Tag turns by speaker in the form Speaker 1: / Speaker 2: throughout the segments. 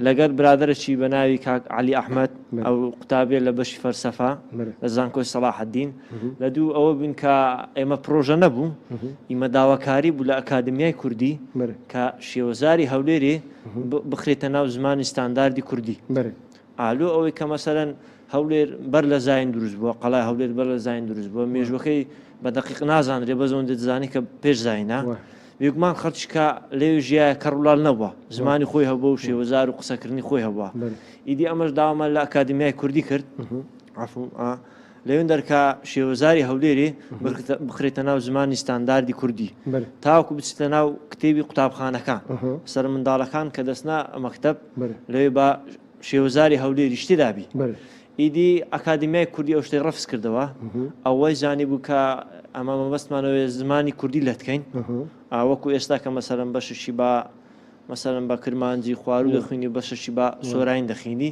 Speaker 1: لەگەر برادەرەکی بە ناوی کاک عەلی ئەحمەد ئەو قوتابیە لە بەشی فەلسەفە لە زانکۆی سەڵاحەدین لە دوو ئەوە بووین کە ئێمە پرۆژە نەبوو ئیمە داواکاری بوو لە ئەکادمیای کوردی کە شێوەزاری هەولێرێ بخرێتە ناو زمانی ستانداردی کوردی ئا لۆ ئەوەی کە مەسەلەن هەولێر بەر لە زاین دروست بووە، قەڵای هەولێر بەر لە زاین دروست بووە، مێژووەکەی بە دەقیق نازانرێ بەس ئەوەندە دەزانین کە پێش زاینە. بێگومان خەڵکی کا لەوێ ژیایە کەڕ و لاڵ نەبووە، زمانی خۆی هەبووە و شێوەزار و قسەکردنی خۆی هەبووە. ئیدی ئەمەش داوامان لە ئەکادیمیای کوردی کرد، عەفوو، لەوێن دەرکا شێوەزاری هەولێرێ بخرێتە ناو زمانی ستانداردی کوردی تاوکو بچێتە ناو کتێبی قوتابخانەکان سەر منداڵەکان کە دەستنا مەکتب لەوێ بە شێوەزاری هەولێری شتی دابی ئیدی ئەکادمیای کوردی ئەو شتەی ڕفز کردەوە ئەوەی زانی بوو کە ئەمە مەبەستمانەوەێ زمانی کوردی لەتکەین ئاوەکو ئێستا کە مەسەرم بەششی بە مەسەرم بە کرمانجی خوارو دەخوێنی بەششی بە سۆراین دەخینی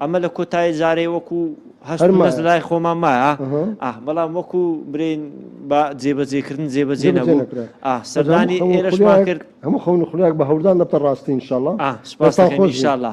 Speaker 1: ئەمە لە کۆتایی جارێ وەکو هەست و نەست لای خۆمان مایە بەڵام وەکو برین بە جێبەجێکردن جێبەجێ نەبوو سەردانی ئێرەشمان کرد هەموو خەون خولێک بە هەوردان دەبتە ڕاستی انشاءاللە سپاستان خۆش انشاءاللە